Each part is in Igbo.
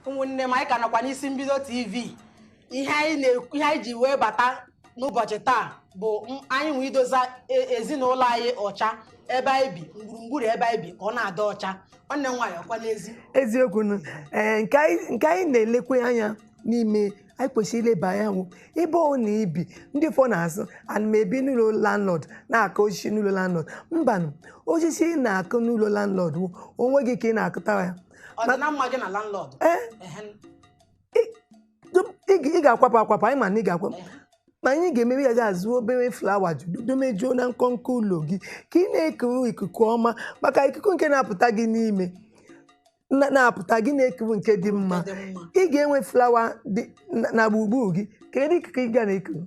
ụmụnne m anyị ka nọkwa n'isi mbido tv ihe anyị ji wee bata n'ụbọchị taa bụ m- anyị nwee idoza e- ezinụlọ anyị ọcha ebe anyị bi gburugburu ebe anyị bi ka ọ na-adị ọcha nwanne m nwaanyị ọkwa n'ezi eziokwu nụ ee nke anyị nke anyị na-elekwe anya n'ime anyị kwesịrị ileba anya wụ ebe ọ na-ebi ndị ụfọdụ na-asụ ana m ebi n'ụlọ landlord na-akụ osisi n'ụlọ landlord mbanụ osisi ị na-akụ n'ụlọ landlord wụ onwe gị ka ị na-akụta ya ọdịmma gị na landlord ee Ehe, dum- ị ga- ị ga-akwapụ akwapụ anyị ma na ị ga-akwapụ ehe. ma ihe ị ga-eme ị ga-azụ obere flawa domejuo na nkọnkọ ụlọ gị ka ị na-ekuru ikuku ọma maka ikuku nke na-apụta gị n'ime na- na-apụta gị na-ekuru nke dị mma Ọ dị mma. ị ga-enwe flawa dị na- na gburugburu gị kedu ikuku ị ga na-ekuru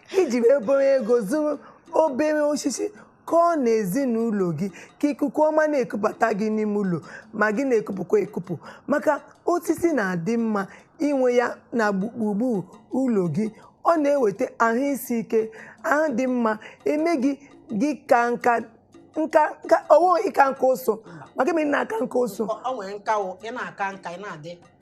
iji obere ego zụrụ obere osisi kọọ na ezinụlọ gị ka ikuku ọma na-ekupụta gị n'ime ụlọ ma gị na-ekupụkwa ekupụ maka osisi na-adị mma inwe ya na gbu- gburugburu ụlọ gị ọ na-eweta ahụ isi ike ahụ dị mma eme gị gị kaa nka nka nka ọwụghị ịka nka ụsụ maka eme na-aka nka ụsụ Ọ- ọ nwere nka wụ ị na-aka nka ị na-adị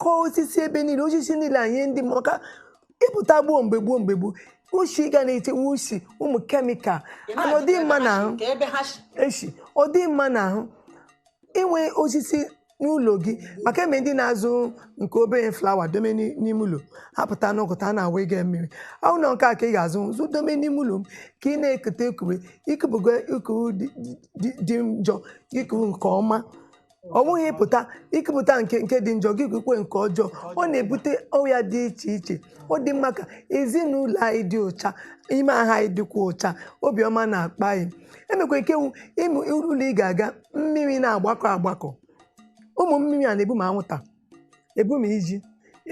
kọọ osisi ebe niile osisi niile anyị ndị maka ịpụta gboo mgbe gboo mgbe gboo ushi gas na-eshiwe ushi ụmụ kemikal ana ọ dị mma na ahụ eshi ọ dị mma na ahụ inwe osisi n'ụlọ gị maka enwe ndị na-azụ nke obere flawa dome n'ime ụlọ apụta n'ụtụtụ a na-awụ ya mmiri ahụ na nke a ka ị ga-azụ azụ dome n'ime ụlọ m ka ị na-ekute ekube ikupụgo ikuku dị njọ ikuru nke ọma ọ bụghị ịpụta ikupụta nke nke dị njọ gị kukwe nke ọjọọ ọ na-ebute ọrịa dị iche iche ọ dị mma ka ezinụlọ anyị dị ụcha ime ahụ anyị dịkwa ụcha obiọma na-akpa anyị enwekwa nke wụ ụmụ ụlọ ị ga-aga mmiri na-agbakọ agbakọ ụmụ mmiri a na-ebu ma anwụnta ebu ma iji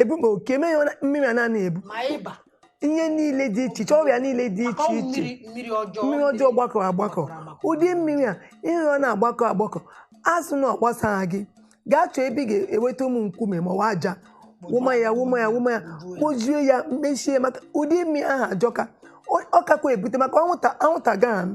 ebu ma oke mee ya mmiri a na-ebu ma ịba ihe niile dị iche iche ọrịa niile dị maka iche ọnwụ iche mmiri mmiri ọjọọ mmiri ọjọọ gbakọ agbakọ gbakọrọ agbakọ. ụdị mmiri a ihe ọ na-agbakọ agbakọ asụ na ọ gbasaghị gị gaa chọọ ebe ị ga-eweta ụmụ nkume ma ọ bụ aja wụma ya wụma ya wụma ya kpojuo ya mechie maka ụdị mmiri ahụ ajọka Ọ- ọ kakwa ebute maka anwụnta anwụnta gaghị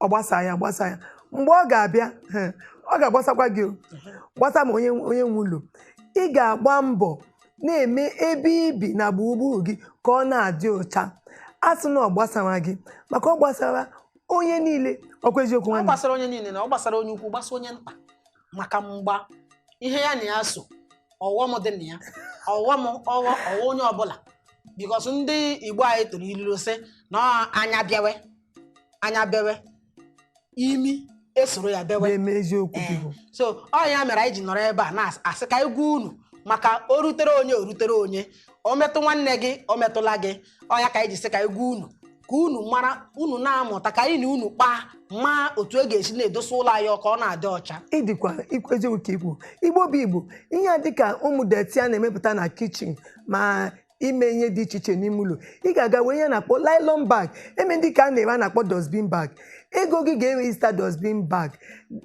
ọ gbasa ya gbasa ya mgbe ọ ga-abịa eh, ọ ga-agbasakwa gị o. gbasa ma onye onye nwe ụlọ ị ga-agba mbọ na-eme ebe i bi na gburugburu gị ka ọ na-adị ụcha asụ na ọ gbasara gị maka ọ gbasara onye niile ọkwa eziokwu ọ nwanne gbasara onye niile na ọ gbasara onye ukwu gbasa onye nta maka mgbe ihe ya na ya so ọghọm dị na ya ọghọm ọghọ ọghọ onye ọbụla because ndị igbo anyị tụrụ ilulu sị na ọ anya bewe anya bewe imi esoro ya bewe na-eme eziokwu Ee. biko so ọ ya mere anyị ji nọrọ ebe a na-asị ka anyị gwa unu maka o rutere onye o rutere onye o metụ nwanne gị o metụla gị ọ ya ka anyị ji sị ka anyị gwa unu ka unu mara unu na-amụta ka anyị na unu kpaa ma otu e ga-esi na-edosa ụlọ anyị ka ọ na-adị ọcha ịdịkwa ikwu eziokwu ka i kwu Igbo bụ Igbo ihe a dịka ụmụ deti a na-emepụta na kichin ma ime ihe dị iche iche n'ime ụlọ ị ga-aga wee ihe a na-akpọ nylon bag enwe ndị ka a na-ere a na-akpọ dustbin bag ego gị ga-enwe ịzụta dustbin bag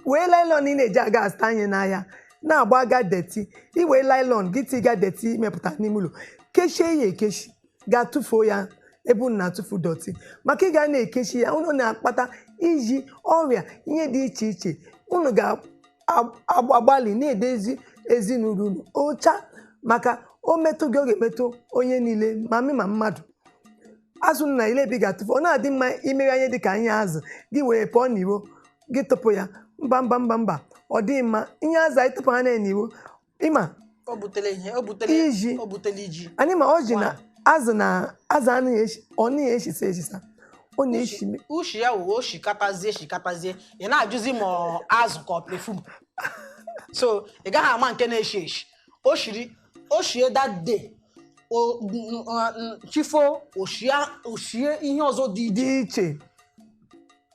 wee nylon ị na-eji aga azụta ihe n'ahịa na-agba aga deti i wee nylon gị tiga deti i mepụta n'ime ụlọ kechie ya ekechi gaa tụfuo ya ebe unu na-atụfu dọtị maka ị ga na-ekechi ya unu na-akpata iji ọrịa ihe dị iche iche unu ga agbalị na-edezi ezinụlọ unu ọcha maka o metụ gị ọ ga-emetụ onye niile ma mmụọ ma mmadụ azụ na-ele ebe ị ga-atụfu ọ na-adị mma i mere ihe dị ka ihe azụ gị wee pụọ n'iro gị tụpụ ya mba mba mba mba ọ dịghị mma ihe azụ anyị tụpụ ha n'iro ị ma o butere ihe o butere Iji. o butere iji anyị ma ọjị na azụ na azụ anaghị eshi ọ naghị eshisa eshisa ọ na-eshi me- ushi ya wụ o shikatazie shikatazie ị na-ajụzi ma ọ azụ ka ọ pefum so ị gaghị ama nke na-eshi eshi o shiri o shie that day o n- n- chi fo o shie o shie ihe ọzọ dị iche dị iche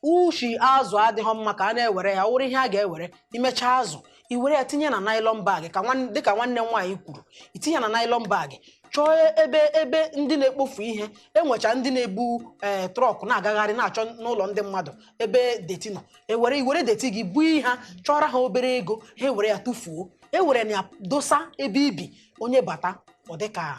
ushi azụ adịghị mma ka a na-ewere ya wụrụ ihe a ga-ewere i mechaa azụ i were ya tinye na nylon bag ka nwan- dịka nwanne m nwaanyị kwuru i tinye na nylon bag chọọ ebe ebe ndị na-ekpofu ihe enwecha ndị na-ebu ee trọk na-agagharị na-achọ n'ụlọ ndị mmadụ ebe deti nọ ewere i were deti gị bunye ha chọọrọ ha obere ego ha ewere ya tụfuo e were na-edosa ebe i bi onye bata ọ dịka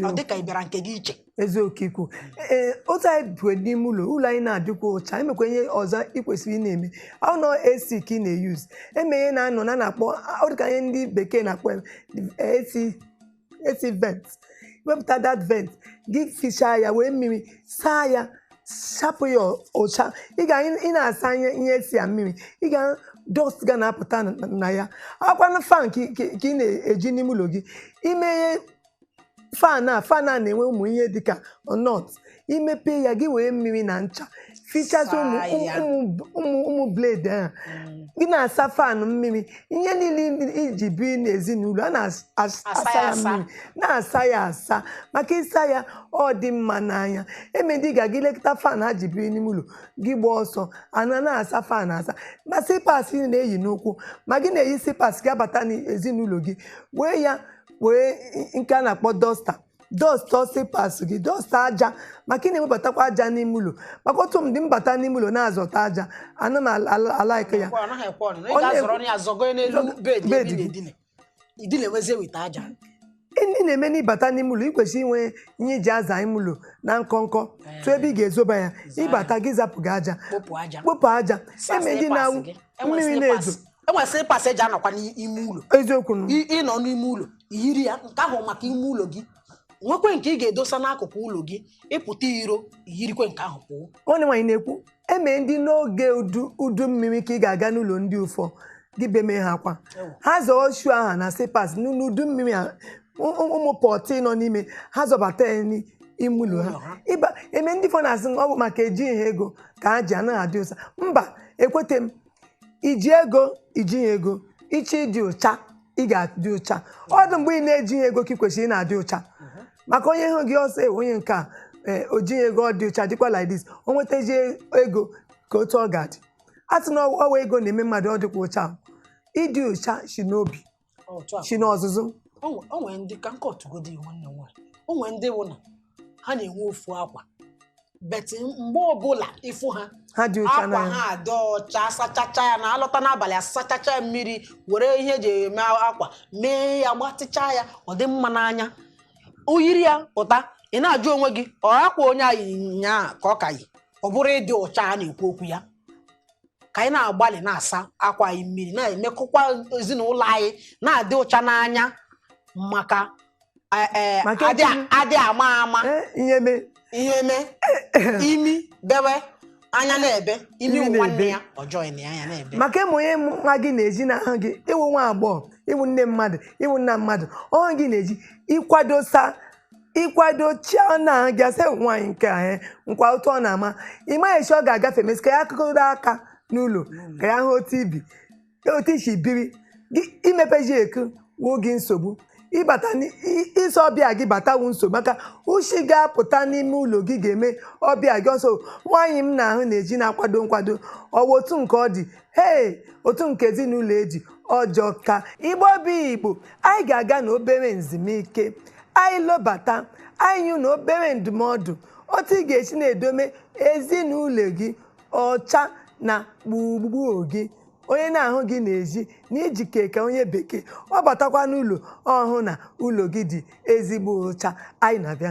ọ dịka ị bịara nke gị iche eziokwu i kwu ee otu anyị biri n'ime ụlọ ụlọ anyị na-adịkwa ụcha enwekwa ihe ọzọ ị kwesịrị ị na-eme ọ nọ AC ka ị na-eyuz enwe ihe na-anọ na na-akpọ ọ dịka ihe ndị bekee na-akpọ ya, AC AC vent wepụta that vent gị fichaa ya wee mmiri saa ya sapụ ya ụcha ị ga ị na-asa ihe ihe AC a mmiri ị ga dọst ga na-apụta na- na ya ọkwanụ fan ka ị- ka ị ka ị na-eji n'ime ụlọ gị i meghe fan a fan a na-enwe ụmụ ihe dịka nọt i mepe ya gị were mmiri na ncha fichazi ụmụ Saa ya. ụmụ- ụmụ ụmụ blade ahụ Mm. gị na-asa fan mmiri ihe niile i ji biri n'ezinụlọ a na-asa Asa ya ya asa. mmiri na-asa ya asa maka ị saa ya ọ dị mma n'anya enwe ndị ga gị lekọta fan ha ji biri n'ime ụlọ gị gbaa ọsọ a na-asa fan asa ma slippers ị na-eyi n'ụkwụ ma gị na-eyi slippers gị abata n'ezinụlọ gị wee ya wee nke a na-akpọ dọsta dọsta ọsịpas gị dọsta aja maka ị na-ewebatakwa aja n'ime ụlọ maka otu m dị mbata n'ime ụlọ na-azọta aja ana m ala- ala- alaịka ya Ọ naghị ekwe ọnụ. Ị Ọ na-ekwe- ga-azọrọ ọnụ ya zọgo ya n'elu Zọgo- bed bed ebe ị gị. na-edina. Idina ewezie weta aja. ndị na-eme n'ịbata n'ime ụlọ ị kwesịrị inwe ihe iji aza ime ụlọ na nkọnkọ tụ ebe ị ga-ezoba ya ịbata gị zapụ gị aja Kpopụ aja. kpopụ aja Saa eme ndị slippers na-awụ gị. Enwe mmiri slippers. na-ezo e nwee slippers eji anọkwa n'ime ụlọ eziokwu ịnọ n'ime ụlọ yiri ya nke ahụ maka ime ụlọ gị nwekwe nke ị ga-edosa n'akụkụ ụlọ gị ịpụta iro yirikwe nke ahụ pụọ nwanne nwaanyị na-ekwu e nwe ndị n'oge udu mmiri ka ị ga-aga n'ụlọ ndị ụfọ gị beme ha akwa ha zọọ shoe ha na slippers n'udu mmiri ụmụ apịtị nọ n'ime ha zọbata ya ime ụlọ ha e nwe ndị ụfọ na-asị ọ bụ maka ejighị ha ego ka ha ji anaghị adị ụcha mba ekwete m iji ego ijighị ego ịchọ ịdị ụcha ị ga-adị ụcha ọ bụ mgbe ị na-ejighị ego ka ị kwesịrị ị na-adị ụcha maka onye hụ gị ọ sị eh onye nke a ee, o jighị ego ọ dị ụcha dịkwa like this o nwetazie ego ka otu ọ ga-adị a sị na ọ wụ ego na-eme mmadụ ọ dịkwa ụcha ịdị ụcha si n'obi otu a si n'ọzụzụ o nwe- o nwere ndị ka m kọtụgodi nwanne nwaanyị o nwere ndị bụ na ha na-enwe ofu akwa but mgbe ọbụla ịfụ ha ha dị ụcha akwa ha adị ọcha sachacha ya na alọta n'abalị asachacha ya mmiri were ihe eji eme akwa mee ya gbatịcha ya ọ dị mma n'anya o yiri ya pụta ị na-ajụ onwe gị ọ akwa onye a yi nyaa ka ọ ka yi ọ bụrụ ịdị ụcha a na-ekwu okwu ya ka anyị na-agbalị na-asa akwa anyị mmiri na-emekọkwa ezinụlọ anyị na-adị ụcha n'anya maka eh, eh, adị ama ama ihe mee ihe eme imi bewe anya na-ebe imi wụ nwanne ya ọ jọọ na anya na-ebe maka ị wụ onye nwa gị na-eji n'ahụ gị ịwụ nwa agbọghọ ịwụ nne mmadụ ịwụ nna mmadụ ọ hụ gị na-eji ịkwadosa ịkwadochaa na-ahụ gị sị nwaanyị nke a eh, nkwa otu ọ na-ama ịmaghị chi ọ ga-agafeme sị ka ya kụgodu aka n'ụlọ ka ya hụ otu i bi otu i si biri gị imepeji eku wuo gị nsogbu ịbata n'i- i- ị sị ọbịa gị bata wụ nsogbu maka ushi ga-apụta n'ime ụlọ gị ga-eme ọbịa gị ọ sị nwaanyị m na-ahụ na-eji na-akwado nkwado ọ wụ otu nke ọ dị hei otu nke ezinụlọ ya dị ọ jọka igbo bụ igbo anyị ga-aga na obere nzumike anyị lọbata anyị enye ụnụ obere ndụmọdụ otu ị ga-esi na-edome ezinụlọ gị ọcha na gburugburu gị onye na-ahụ gị n'ezi na ị jike ka onye bekee ọ batakwa n'ụlọ ọ hụ na ụlọ gị dị ezigbo ụcha anyị na-abịa